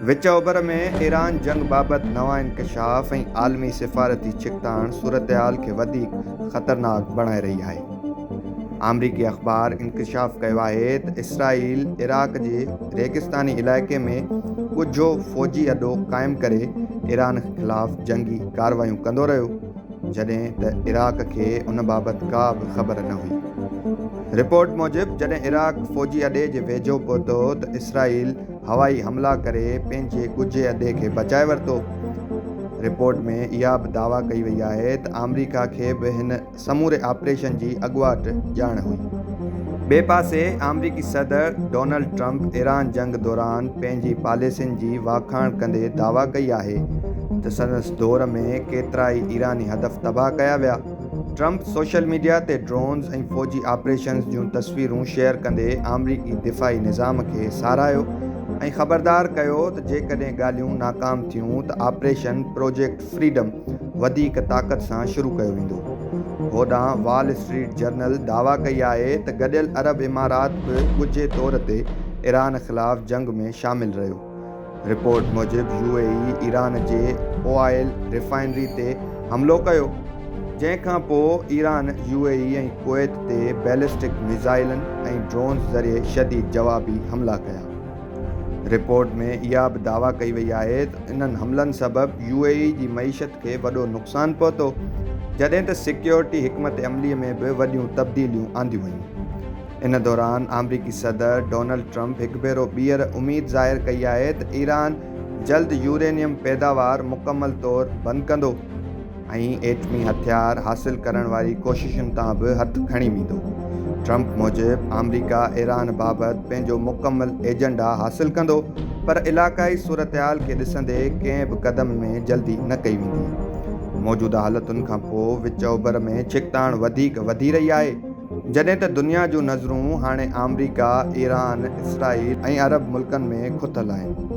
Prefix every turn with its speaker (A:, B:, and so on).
A: وچ اوڀر ۾ ايران جنگ بابت نوان انڪشاف ۽ عالمي سفارتي ڇڪتاڻ صورتحال کي وڌيڪ خطرناڪ بڻائي رهي آهي. آمريڪي اخبار انڪشاف ڪيو آهي ته اسرائيل عراق جي ريگستاني علائقي ۾ ڳجهو فوجي اڏو قائم ڪري ايران خلاف جنگي ڪارروايون ڪندو رهيو جڏهن ته عراق کي ان بابت ڪا به خبر نه هئي. رپورٽ موجب جڏهن عراق فوجي اڏي جي ويجهو پهتو ته اسرائيل هوائي حملا ڪري پنهنجي ڳجهي اڏي کي بچائي ورتو. رپورٽ ۾ اها به دعويٰ ڪئي وئي آهي ته آمريڪا کي به هن سموري آپريشن جي اڳواٽ ڄاڻ هئي. ٻئي پاسي آمريڪي صدر ڊونلڊ ٽرمپ ايران جنگ دوران پنهنجي پاليسين جي واکاڻ ڪندي دعويٰ ڪئي آهي ته سندس دور ۾ ڪيترائي ايراني هدف تباهه ڪيا ويا. ٽرمپ سوشل ميڊيا تي ڊرونز ۽ فوجي آپريشنز جون تصويرون شيئر ڪندي آمريڪي دفاعي نظام کي ساراهيو ۽ خبردار ڪيو ته جيڪڏهن ڳالهيون ناڪام ٿيون ته آپريشن پروجيڪٽ فريڊم وڌيڪ طاقت سان شروع ڪيو ويندو. هوڏانهن وال اسٽريٽ جرنل دعويٰ ڪئي آهي ته گڏيل عرب امارات به ڳجهي طور تي ايران خلاف جنگ ۾ شامل رهيو. رپورٽ موجب يو اي اي ايران جي اوائل ريفائنري تي حملو ڪيو جنهن کان پوء Iran U A E ۽ Kuwait تي بيلسٽڪ ميزائلن ۽ ڊرونز ذريعي شديد جوابي حملا ڪيا. رپورٽ ۾ اها به دعويٰ ڪئي وئي آهي ته انهن حملن سبب يو اي اي جي معيشت کي وڏو نقصان پهتو جڏهن ته سيڪيورٽي حڪمت عملي ۾ به وڏيون تبديليون آنديون ويون. ان دوران آمريڪي صدر ڊونلڊ ٽرمپ هڪ ڀيرو ٻيهر اميد ظاهر ڪئي آهي ته ايران جلد يورينيم پيداوار مڪمل طور بند ڪندو ۽ ايٽمي هٿيار حاصل ڪرڻ واري ڪوششن تان به هٿ کڻي ويندو. ٽرمپ موجب آمريڪا ايران بابت پنهنجو مڪمل ايجنڊا حاصل ڪندو پر علاقائي صورتحال کي ڏسندي ڪنهن به قدم ۾ جلدي نه ڪئي ويندي. موجوده حالتن کانپوء وچ اوڀر ۾ ڇڪتاڻ وڌيڪ وڌي رهي آهي. جڏهن ته دنيا جون نظرون هاڻي آمريڪا، ايران، اسرائيل ۽ عرب ملڪن ۾ کتل آهن.